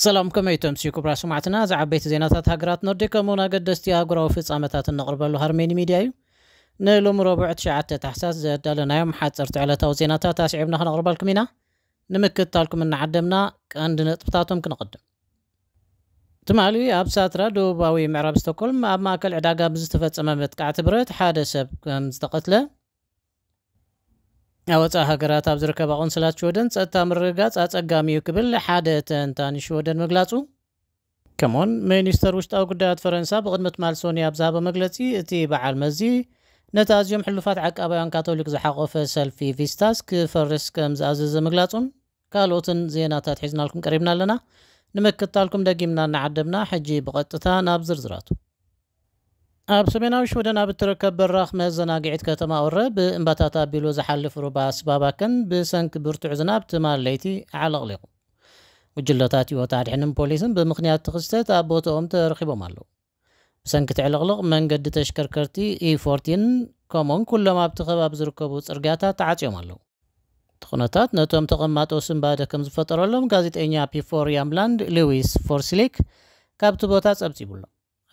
ሰላም ከመይ ተምስዩ ክብራ ስማዕትና እዚ ዓበይቲ ዜናታት ሃገራት ኖርዲ ከምኡውን ኣገደስቲ ኣህጉራዊ ፍጻመታት እነቕርበሉ ሃርሜኒ ሚድያ እዩ ንሎሚ ረቡዕ 9 ታሕሳስ ዘዳለናዮም ሓፀርቲ ዕለታዊ ዜናታት ኣስዒብና ክነቕርበልኩም ኢና ንምክትታልኩም እናዓደምና ቀንዲ ነጥብታቶም ክንቕድም ትማሊ ኣብ ሳትራ ደቡባዊ ምዕራብ ስቶኮልም ኣብ ማእከል ዕዳጋ ብዝተፈጸመ መጥቃዕቲ ብረት ሓደ ሰብ ከምዝተቐትለ ኣብ ወጻኢ ሃገራት ኣብ ዝርከባ ቆንስላት ሽወደን ጸጥታ ምርግጋጽ ኣጸጋሚ'ዩ ክብል ሓደ ተንታኒ ሽወደን ምግላጹ ከምኡ'ውን ሚኒስተር ውሽጣዊ ጉዳያት ፈረንሳ ብቕድሚ ትማል ሶኑይ ኣብ ዝሃቦ መግለጺ እቲ በዓል መዚ ነቲ ኣዝዮም ሕሉፋት ዓቃባውያን ካቶሊክ ዝሓቖፈ ሰልፊ ቪስታስ ክፈርስ ከምዝኣዘዘ ምግላጹን ካልኦትን ዜናታት ሒዝናልኩም ቀሪብና ኣለና። ንምክትታልኩም ደጊምና እናዓደብና፣ ሕጂ ብቐጥታ ናብ ዝርዝራቱ። ኣብ ሰሜናዊ ሽወደን ኣብ እትርከብ በራኽ መዘናግዒት ከተማ ኦረ፣ ብእምባታት ኣቢሉ ዝሓልፍ ሩባ ስባባከን ብሰንኪ ብርቱዕ ዝናብ ትማል ለይቲ ኣዕለቕሊቑ። ጉጅለታት ህይወት ኣድሕንን ፖሊስን ብምኽንያት እቲ ክስተት ኣብ ቦታኦም ተረኺቦም ኣለዉ። ብሰንኪ እቲ ዕልቕልቕ መንገዲ ተሽከርከርቲ ኢፎርቲን ከምኡውን ኩሎም ኣብቲ ከባቢ ዝርከቡ ጽርግያታት ተዓጽዮም ኣለዉ። እቲ ኩነታት ነቶም ተቐማጦ ስንባደ ከም ዝፈጠረሎም ጋዜጠኛ ፒፎር ያምላንድ ሉዊስ ፎርሲሊክ ካብቲ ቦታ ጸብጺቡ ኣሎ።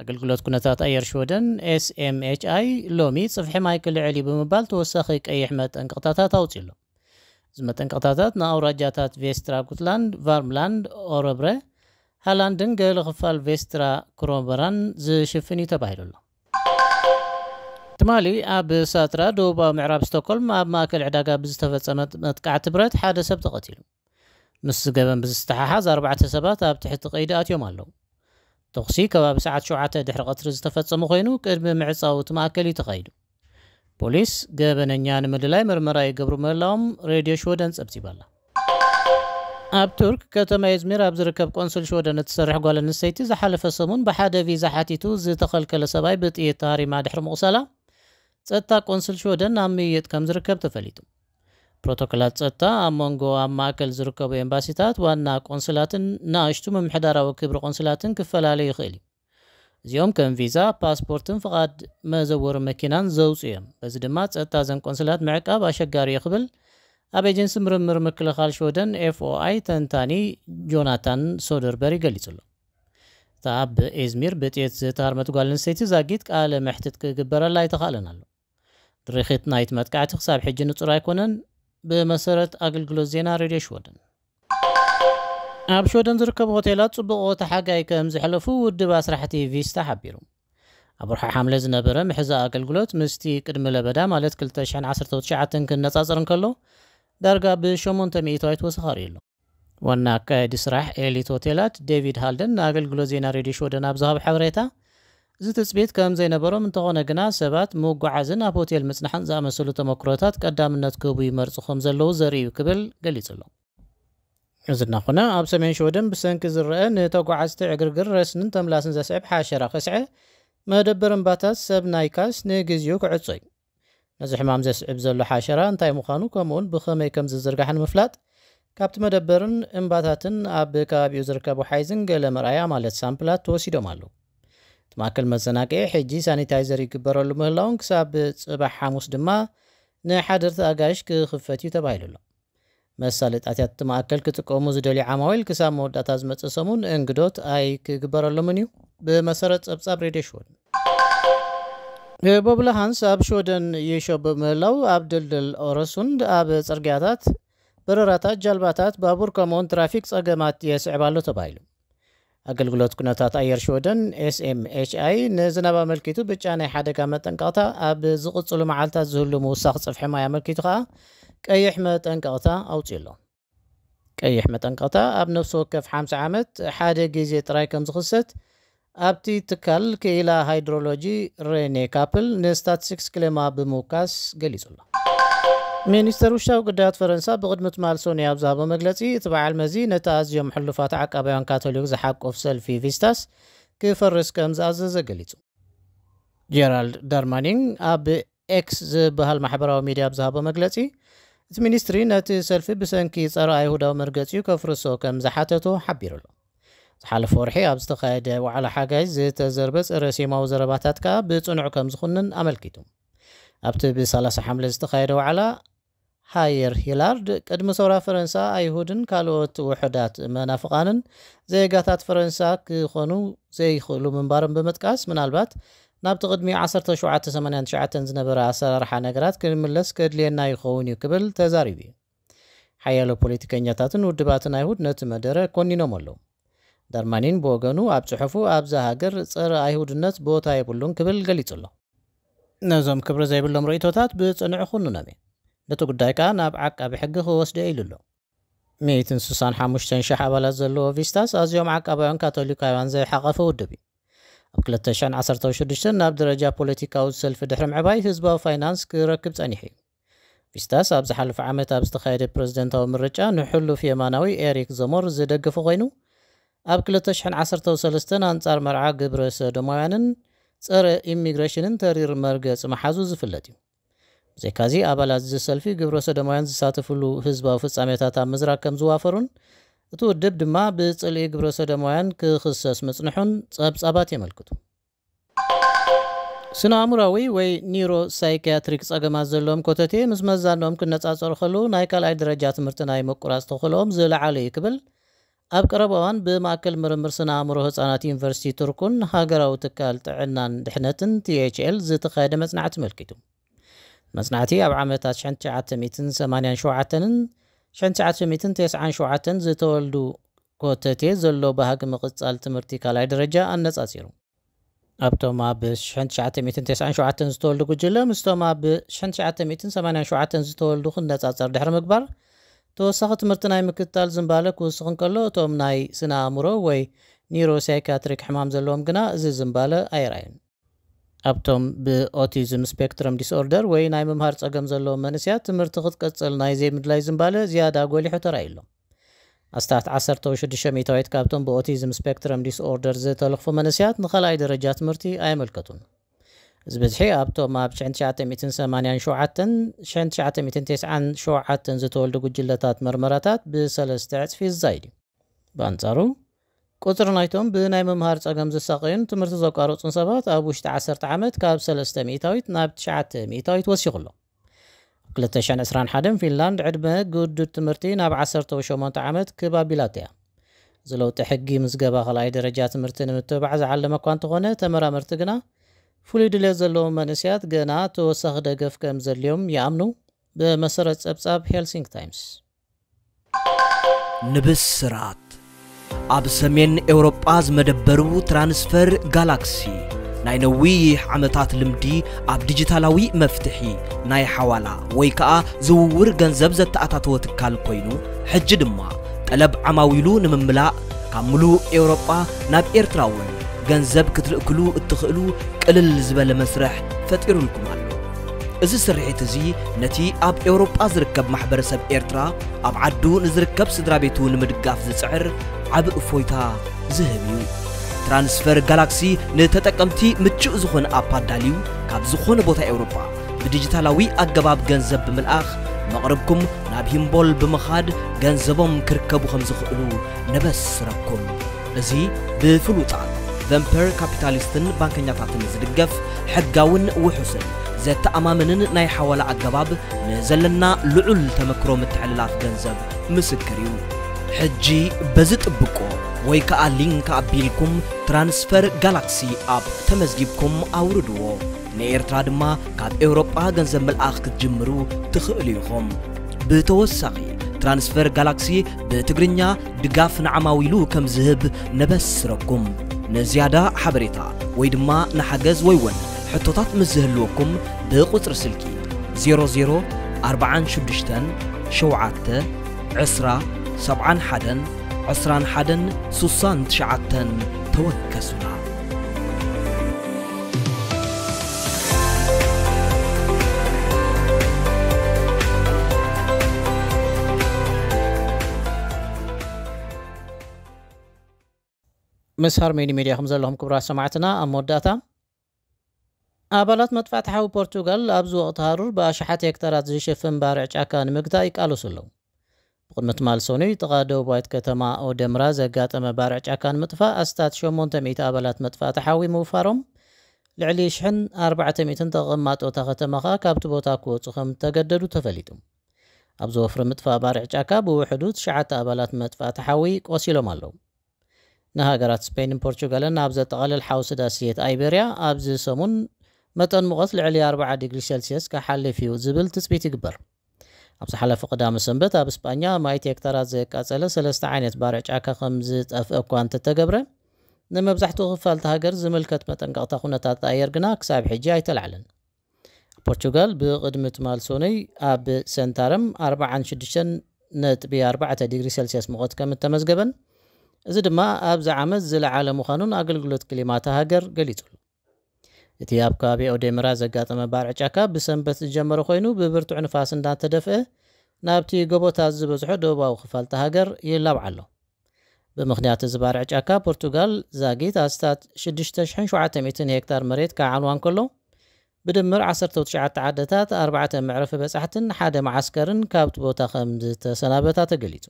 ኣገልግሎት ኩነታት ኣየር ሽወደን፣ SMHI፣ ሎሚ ጽፍሒ ማይ ክልዕል እዩ ብምባል ተወሳኺ ቀይሕ መጠንቀቕታታት ኣውጺኡ ኣሎ። እዚ መጠንቀቕታታት ንኣውራጃታት ቬስትራ ጉትላንድ፣ ቫርምላንድ፣ ኦረብረ፣ ሃላንድን ገለ ክፋል ቬስትራ ክሮንበራን ዝሽፍን እዩ ተባሂሉ ኣሎ። ትማሊ ኣብ ሳትራ፣ ደቡባዊ ምዕራብ ስቶኮልም፣ ኣብ ማእከል ዕዳጋ ብዝተፈጸመ መጥቃዕቲ ብረት ሓደ ሰብ ተቐቲሉ። ምስዚ ገበን ብዝተሓሓዝ ኣርባዕተ ሰባት ኣብ ትሕቲ ቀይዲ ኣትዮም ኣለዉ። ተኹሲ ከባቢ ሰዓት ሸውዓተ ድሕሪ ቀትሪ ዝተፈጸመ ኮይኑ ቅድሚ ምዕጻው እቲ ማእከል እዩ ተኻይዱ። ፖሊስ ገበነኛ ንምልላይ ምርመራ ይገብሩ ምህላዎም ሬድዮ ሽወደን ጸብጺባ ኣላ። ኣብ ቱርክ ከተማ ኤዝሚር ኣብ ዝርከብ ቆንስል ሽወደን እትሰርሕ ጓል ኣንስተይቲ ዝሓለፈ ሰሙን ብሓደ ቪዛ ሓቲቱ ዝተኸልከለ ሰብኣይ ብጥይት ተሃሪማ ድሕሪ ምቑሳላ ጸጥታ ቆንስል ሽወደን ኣብ ምይይጥ ከምዝርከብ ተፈሊጡ። ፕሮቶኮላት ጸጥታ ኣብ መንጎ ኣብ ማእከል ዝርከቡ ኤምባሲታት፣ ዋና ቆንስላትን ንኣሽቱ ምምሕዳራዊ ክብሪ ቆንስላትን ክፈላለ ይኽእል እዩ። እዚኦም ከም ቪዛ፣ ፓስፖርትን ፍቓድ መዘወሪ መኪናን ዘውጽኡ እዮም፣ በዚ ድማ ጸጥታ እዘን ቆንስላት ምዕቃብ ኣሸጋሪ እዩ ክብል ኣብ ኤጀንሲ ምርምር ምክልኻል ሽወደን፣ FOI፣ ተንታኒ ጆናታን ሶደርበሪ ገሊጹ ኣሎ። እታ ኣብ ኢዝሚር ብጥይት ዝተሃርመት ጓል ኣንስተይቲ ዛጊት ቃለ መሕትት ክግበረላ ኣይተኻእለን ኣሎ። ድርኺት ናይቲ መጥቃዕቲ ክሳብ ሕጂ ንጹር ኣይኮነን፣ ብመሰረት ኣገልግሎት ዜና ሬድዮ ሽወደን። ኣብ ሽወደን ዝርከቡ ሆቴላት ጽቡቕ ወቕቲ ሓጋይ ከም ዘሕለፉ ውድብ ኣስራሕቲ ቪስታ ሓቢሩ። ኣብ ወርሒ ሓምለ ዝነበረ ምሕዛእ ኣገልግሎት ምስቲ ቅድሚ ለበዳ ማለት ክልተ ሽሕን ዓሰርተው ትሽዓተን ክነጻጸር እንከሎ ዳርጋ ብሸሞንተ ሚእታዊት ወሰኽ ኣርእዩ ኣሎ። ዋና ኣካያዲ ስራሕ ኤሊት ሆቴላት ዴቪድ ሃልደን ንኣገልግሎት ዜና ሬድዮ ሽወደን ኣብ ዝሃቦ ሓበሬታ፣ እዚ ትጽቢት ከም ዘይነበሮም፣ እንተዀነ ግና ሰባት ምጕዓዝን ኣብ ሆቴል ምጽናሕን ዝኣመሰሉ ተመኵሮታት ቀዳምነት ክህቡ ይመርጹ ከም ዘለዉ ዘርኢ እዩ ክብል ገሊጹ ኣሎ። እዚ እናዀነ፣ ኣብ ሰሜን ሽወደን ብሰንኪ ዝረኣ ንተጓዓዝቲ ዕግርግር፣ ረስንን ተምላስን ዘስዕብ ሓሸራ ከስዐ፣ መደበር እምባታት ሰብ ናይካስ ንግዜኡ ክዕጾ እዩ። ነዚ ሕማም ዘስዕብ ዘሎ ሓሸራ እንታይ ምዃኑ ከምኡውን ብኸመይ ከም ዝዝርጋሕ ንምፍላጥ ካብቲ መደበርን እምባታትን ኣብ ከባቢኡ ዝርከቡ ሓይዝን ገለ መርኣያ ማለት ሳምፕላት ተወሲዶም ኣለዉ። እቲ ማእከል መዘናግዒ ሕጂ ሳኒታይዘር ይግበረሉ ምህላዉን ክሳብ ጽባሕ ሓሙስ ድማ ንሓደርቲ ኣጋይሽ ክኽፈት እዩ ተባሂሉ ኣሎ። መሳለጥያታት እቲ ማእከል ክጥቀሙ ዝደልዩ ዓማዊል ክሳብ መወዳእታ ዝመጽእ ሰሙን እንግዶት ኣይክግበረሎምን እዩ፣ ብመሰረት ጸብጻብ ሬድዮ ሽወደን። ህቦብላ ሃንስ ኣብ ሽወደን ይሾ ብምህላው ኣብ ድልድል ኦረሱንድ፣ ኣብ ጽርግያታት፣ በረራታት ጃልባታት፣ ባቡር ከምኡውን ትራፊክ ጸገማት የስዕብ ኣሎ ተባሂሉ። ኣገልግሎት ኩነታት ኣየር ሽወደን፣ SMHI፣ ንዝናብ ኣመልኪቱ ብጫ ናይ ሓደጋ መጠንቀቕታ፣ ኣብ ዝቕጽሉ መዓልታት ዝህሉ ምውሳኽ ጽፍሒ ማይ ኣመልኪቱ ከኣ ቀይሕ መጠንቀቕታ ኣውጺኡ ኣሎ። ቀይሕ መጠንቀቕታ ኣብ ነፍሲ ወከፍ ሓምሳ ዓመት ሓደ ግዜ ጥራይ ከም ዝኽሰት ኣብቲ ትካል ክኢላ ሃይድሮሎጂ ረኔ ካፕል ንስታትስቲክስ ክሌማ ብምውካስ ገሊጹ ኣሎ። ሚኒስተር ውሽጣዊ ጉዳያት ፈረንሳ ብቕድሚ ትማል ሰኑይ ኣብ ዝሃቦ መግለጺ፣ እቲ በዓል መዚ ነቲ ኣዝዮም ሕሉፋት ዓቃባውያን ካቶሊክ ዝሓቁፍ ሰልፊ ቪስታስ ክፈርስ ከም ዝኣዘዘ ገሊጹ። ጀራልድ ዳርማኒን ኣብ ኤክስ ዝበሃል ማሕበራዊ ሚድያ ኣብ ዝሃቦ መግለጺ፣ እቲ ሚኒስትሪ ነቲ ሰልፊ ብሰንኪ ጸረ-ኣይሁዳዊ መርገጺኡ ከፍርሶ ከም ዝሓተቶ ሓቢሩ ኣሎ። ዝሓለፈ ወርሒ ኣብ ዝተኻየደ ዋዕላ ሓጋይ ዝተዘርበ ጸረ-ሴማዊ ዘረባታት ከኣ ብጽኑዕ ከም ዝኹንን ኣመልኪቱ። ኣብቲ ብ ሰላሳ ሓምለ ዝተኻየደ ዋዕላ፣ ሃየር ሂላርድ፣ ቅድሚ ሰውራ ፈረንሳ፣ ኣይሁድን ካልኦት ውሑዳት መናፍቓንን ዜጋታት ፈረንሳ ክኾኑ ዘይኽእሉ ምንባሮም ብምጥቃስ፣ ምናልባት ናብቲ ቅድሚ ዓሰርተ ሸውዓተ ሰማንያን ትሽዓተን ዝነበረ ኣሰራርሓ ነገራት ክንምለስ ከድልየና ይኸውን እዩ ክብል ተዛሪቡ እዩ። ሓያሎ ፖለቲከኛታትን ውድባትን ኣይሁድ ነቲ መደረ ኮኒኖሞ ኣለዉ። ዳርማኒን ብወገኑ ኣብ ጽሑፉ ኣብዛ ሃገር ጸረ ኣይሁድነት ቦታ የብሉን ክብል ገሊጹ ኣሎ። ነዞም ክብሪ ዘይብሎም ርእይቶታት ብጽኑዕ እኹንኖም እየ። ነቲ ጉዳይ ከኣ ናብ ዓቃቢ ሕጊ ክወስዶ'የ ኢሉ ኣሎ። ሚእትን ስሳን ሓሙሽተን ሽሕ ኣባላት ዘለዎ ቪስታስ ኣዝዮም ዓቃባውያን ካቶሊካውያን ዝሓቘፈ ውድብ እዩ። ኣብ ክልተ ሽሕን ዓሰርተው ሽዱሽተን ናብ ደረጃ ፖለቲካዊ ሰልፊ ድሕሪ ምዕባይ ህዝባዊ ፋይናንስ ክረክብ ጸኒሑ እዩ። ቪስታስ ኣብ ዝሓለፈ ዓመት ኣብ ዝተኻየደ ፕረዚደንታዊ ምርጫ ንሕሉፍ የማናዊ ኤሪክ ዘሞር ዝደገፈ ኮይኑ፣ ኣብ ክልተ ሽሕን ዓሰርተው ሰለስተን ኣንጻር መርዓ ግብረ ሰዶማውያንን ጸረ ኢሚግሬሽንን ተሪር መርገጺ ምሓዙ ዝፍለጥ እዩ። ብዘይካዚ ኣባላት እዚ ሰልፊ ግብረ ሰዶማውያን ዝሳተፍሉ ህዝባዊ ፍጻሜታት ኣብ ምዝራግ ከም ዝዋፈሩን እቲ ውድብ ድማ ብጽልኢ ግብረ ሰዶማውያን ክኽሰስ ምጽንሑን ጸብጻባት የመልክቱ። ስነ-ኣእምሮኣዊ ወይ ኒዩሮ-ሳይክያትሪክ ጸገማት ዘለዎም ኮተቴ ምስ መዛኖኦም ክነጻጸሩ ከለዉ ናይ ካልኣይ ደረጃ ትምህርቲ ናይ ምቁራጽ ተኽእሎኦም ዝለዓለ እዩ ክብል ኣብ ቀረባ እዋን ብማእከል ምርምር ስነ-ኣእምሮ ህጻናት ዩኒቨርሲቲ ቱርኩን ሃገራዊ ትካል ጥዕናን ድሕነትን፣ THL፣ ዝተኻየደ መጽናዕቲ ኣመልኪቱ። እቲ መጽናዕቲ ኣብ ዓመታት ሽሕን ትሽዓተ ሚእትን ሰማንያን ሸውዓተንን ሽሕን ትሽዓተ ሚእትን ተስዓን ሸውዓተን ዝተወልዱ፣ ኮተቴ ዘሎ ባህጊ ምቕጻል ትምህርቲ ካልኣይ ደረጃ ኣነጻጺሩ። ኣብቶም ኣብ ሽሕን ትሽዓተ ሚእትን ተስዓን ሸውዓተን ዝተወልዱ ጉጅለ ምስቶም ኣብ ሽሕን ትሽዓተ ሚእትን ሰማንያን ሸውዓተን ዝተወልዱ ክነጻጸር ድሕሪ ምግባር፣ ተወሳኺ ትምህርቲ ናይ ምክትታል ዝንባለ ክውስኽ እንከሎ፣ እቶም ናይ ስነ-ኣእምሮ ወይ ኒዩሮሳይካትሪክ ሕማም ዘለዎም ግና እዚ ዝንባለ ኣየርኣዩን። ኣብቶም ብኦቲዝም ስፔክትረም ዲስኦርደር ወይ ናይ ምምሃር ጸገም ዘለዎም መንእሰያት ትምህርቲ ክትቅጽል ናይ ዘይምድላይ ዝንባለ ዝያዳ ጎሊሑ ተራእዩ'ሎ። ኣስታት ዓሰርተ ወይ ሽዱሽተ ሚእታዊት ካብቶም ብኦቲዝም ስፔክትረም ዲስኦርደር ዝተለኽፉ መንእሰያት ንኻልኣይ ደረጃ ትምህርቲ ኣየመልከቱን። እዚ ብዝሒ ኣብቶም ኣብ ሽሕን ትሽዓተ ሚእትን ሰማንያን ሸውዓተን፣ ሽሕን ትሽዓተ ሚእትን ቴስዓን ሸውዓተን ዝተወልዱ ጉጅለታት መርመራታት ብሰለስተ ዕጽፊ ዝዛይድ እዩ። ብኣንጻሩ፣ ቁጽሪ ናይቶም ብናይ ምምሃር ጸገም ዝሳቐዩን ትምህርቲ ዘቋረጹን ሰባት ኣብ ውሽጢ ዓሰርተ ዓመት ካብ ሰለስተ ሚእታዊት ናብ ትሽዓተ ሚእታዊት ወሲኹ ኣሎ። ኣብ ክልተ ሽሕን ዕስራን ሓደን ፊንላንድ ዕድመ ግዱድ ትምህርቲ ናብ ዓሰርተው ሸሞንተ ዓመት ክብ ኣቢላቶ'ያ። እዚ ለውጢ ሕጊ ምዝገባ ካልኣይ ደረጃ ትምህርቲ ንምትብባዕ ዝዓለመ'ኳ እንተኾነ ተመራመርቲ ግና ፍሉይ ድሌት ዘለዎም መንእሰያት ገና ተወሳኺ ደገፍ ከምዘድልዮም ይኣምኑ። ብመሰረት ጸብጻብ ሄልሲንኪ ታይምስ። ንብስራት! ኣብ ሰሜን ኤውሮጳ ዝመደበሩ ትራንስፈር ጋላክሲ፣ ናይ ነዊሕ ዓመታት ልምዲ ኣብ ዲጂታላዊ መፍትሒ ናይ ሓዋላ ወይ ከኣ ዝውውር ገንዘብ ዘተኣታተወ ትካል ኮይኑ፣ ሕጂ ድማ ጠለብ ዓማዊሉ ንምምላእ ካብ ምሉእ ኤውሮጳ ናብ ኤርትራ'ውን ገንዘብ ክትልእክሉ እትኽእሉ ቅልል ዝበለ መስርሕ ፈጢሩልኩም ኣሎ። እዚ ስርሒት እዚ ነቲ ኣብ ኤውሮጳ ዝርከብ ማሕበረሰብ ኤርትራ ኣብ ዓዱ ንዝርከብ ስድራቤቱ ንምድጋፍ ዝጽዕር ዓቢ እፎይታ ዝህብ እዩ። ትራንስፈር ጋላክሲ ንተጠቀምቲ ምቹእ ዝኾነ ኣፕ ኣዳልዩ ካብ ዝኾነ ቦታ ኤውሮጳ ብዲጂታላዊ ኣገባብ ገንዘብ ብምልኣኽ መቕርብኩም ናብ ሂምቦል ብምኻድ ገንዘቦም ክርከቡ ከምዝኽእሉ ነበስረኩም። እዚ ብፍሉጣት ቨንፐር ካፒታሊስትን ባንከኛታትን ዝድገፍ ሕጋውን ውሑስን ዘተኣማምንን ናይ ሓዋላ ኣገባብ ንዘለና ልዑል ተመክሮ ምትሕልላፍ ገንዘብ ምስክር እዩ። ሕጂ በዚ ጥብቆ ወይ ከኣ ሊንክ ኣቢልኩም Transfer Galaxy App ተመዝጊብኩም ኣውርድዎ። ንኤርትራ ድማ ካብ ኤውሮጳ ገንዘብ ምልኣኽ ክትጅምሩ ትኽእሉ ኢኹም። ብተወሳኺ Transfer Galaxy ብትግርኛ፣ ድጋፍ ንዓማዊሉ ከም ዝህብ ነበስረኩም። ንዝያዳ ሓበሬታ ወይ ድማ ንሓገዝ ወይ ውን ሕቶታት ምስ ዝህልወኩም ብቁጽሪ ስልኪ 00 46 7 ዕስራ ሰብዓን ሓደን ዕስራን ሓደን ሱሳን ትሽዓተን ተወከሱና። ምስ ሃርሜኒ ሚድያ ከም ዘለኹም ክብራት ሰማዕትና ኣብ መወዳእታ ኣባላት መጥፋእቲ ሓዊ ፖርቱጋል ኣብዚ ወቕቲ ሃሩር ብኣሽሓት ሄክታራት ዝሽፍን ባርዕ ጫካ ንምግታእ ይቃለሱ ኣለዉ ብቕድሚ ትማል ሰኑይ ጥቓ ደቡባዊት ከተማ ኦደምራ ዘጋጠመ ባርዕ ጫካ ንምጥፋእ ኣስታት ሸሞንተ ሚእቲ ኣባላት መጥፋእቲ ሓዊ ምውፋሮም፣ ልዕሊ ሽሕን ኣርባዕተ ሚእትን ተቐማጦ እታ ከተማ ከኣ ካብቲ ቦታ ክወጹ ከም እተገደዱ ተፈሊጡ። ኣብዚ ወፍሪ ምጥፋእ ባርዕ ጫካ ብውሕዱ ትሽዓተ ኣባላት መጥፋእቲ ሓዊ ቆሲሎም ኣለዉ። ንሃገራት ስፐይንን ፖርቹጋልን ኣብ ዘጠቓልል ሓውሲ ዳስየት ኣይበርያ ኣብዚ ሰሙን መጠን ሙቐት ልዕሊ ኣርብዓ ዲግሪ ሰልስየስ ክሓልፍ እዩ ዝብል ትጽቢት ይግበር። ኣብ ዝሓለፈ ቀዳመ ሰንበት ኣብ ስጳኛ ኣማኢት ሄክታራት ዘቃጸለ ሰለስተ ዓይነት ባርዕ ጫካ ከም ዝጠፍእ እኳ እንተተገብረ፣ ንመብዛሕትኡ ክፋል እታ ሃገር ዝምልከት መጠንቀቕታ ኩነታት ኣየር ግና ክሳብ ሕጂ ኣይተላዕለን። ኣብ ፖርቹጋል ብቕድሚ ትማል ሰኑይ ኣብ ሰንታረም ኣርብዓን ሽዱሽተን ነጥቢ ኣርባዕተ ዲግሪ ሰልስየስ ሙቐት ከም እተመዝገበን እዚ ድማ ኣብዚ ዓመት ዝለዓለ ምዃኑን ኣገልግሎት ክሊማ እታ ሃገር ገሊጹ ኣሎ። እቲ ኣብ ከባቢ ኦዴምራ ዘጋጠመ ባርዕ ጫካ ብሰንበት ዝጀመረ ኮይኑ ብብርቱዕ ንፋስ እንዳተደፍአ ናብቲ ጎቦታት ዝበዝሖ ደቡባዊ ክፋል እታ ሃገር ይላባዕ ኣሎ። ብምኽንያት እዚ ባርዕ ጫካ ፖርቱጋል ዛጊት ኣስታት ሽዱሽተ ሽሕን ሸውዓተ ሚእትን ሄክታር መሬት ክዓንዋ እንከሎ ብድምር ዓሰርተው ትሽዓተ ዓድታት፣ ኣርባዕተ መዕረፊ በጻሕትን ሓደ መዓስከርን ካብቲ ቦታ ከምዝተሰናበታ ተገሊጹ።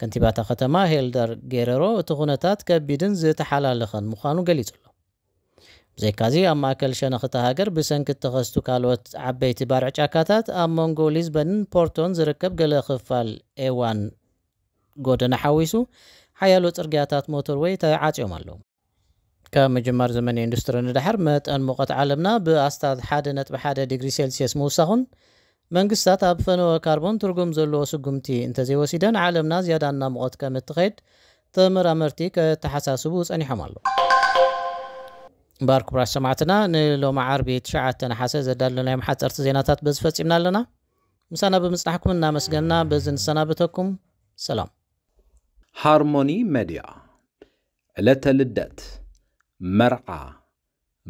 ከንቲባ እታ ከተማ ሄልደር ጌረሮ እቲ ኩነታት ከቢድን ዝተሓላለኸን ምዃኑ ገሊጹ ኣሎ። ብዘይካዚ ኣብ ማእከል ሸነኽ እታ ሃገር ብሰንኪ እተኸስቱ ካልኦት ዓበይቲ ባርዕ ጫካታት ኣብ መንጎ ሊዝበንን ፖርቶን ዝርከብ ገለ ክፋል ኤዋን ጎደና ሓዊሱ ሓያሎ ጽርግያታት ሞቶርወይ ተዓጽዮም ኣለዉ። ካብ ምጅማር ዘመነ ኢንዱስትሪ ንደሓር፣ መጠን ሙቐት ዓለምና ብኣስታት ሓደ ነጥቢ ሓደ ዲግሪ ሴልስየስ ምውሳኹን፣ መንግስታት ኣብ ፈነወ ካርቦን ትርጉም ዘለዎ ስጉምቲ እንተዘይወሲደን ዓለምና ዝያዳ እናሞቐት ከምትኸይድ ተመራመርቲ ከተሓሳስቡ ጸኒሖም ኣለዉ። እምበኣር ክቡራት ሰማዕትና ንሎሚ ዓርቢ ትሽዓተ ነሓሰ ዘዳለናዮም ሓጸርቲ ዜናታት በዚ ፈጺምና ኣለና። ምሳና ብምጽናሕኩም እናመስገንና በዚ ንሰናበተኩም። ሰላም። ሃርሞኒ መድያ ዕለተ ልደት፣ መርዓ፣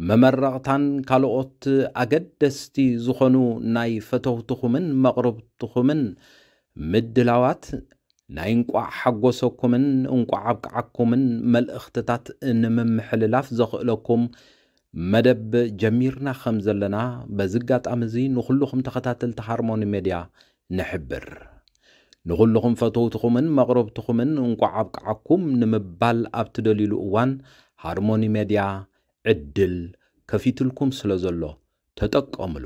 መመረቕታን ካልኦት ኣገደስቲ ዝኾኑ ናይ ፈተውትኹምን መቕርብትኹምን ምድላዋት ናይ እንቋዕ ሓጎሰኩምን እንቋዕ ኣብቅዓኩምን መልእኽትታት ንምምሕልላፍ ዘኽእለኩም መደብ ጀሚርና ከምዘለና በዚ ኣጋጣሚ እዚ ንኹሉኹም ተኸታተልቲ ሃርሞኒ ሜድያ ንሕብር። ንኹሉኹም ፈተውትኹምን መቕረብትኹምን እንቋዕ ኣብቅዓኩም ንምባል ኣብ ትደልዩሉ እዋን ሃርሞኒ ሜድያ ዕድል ከፊትልኩም ስለዘሎ ተጠቀምሉ።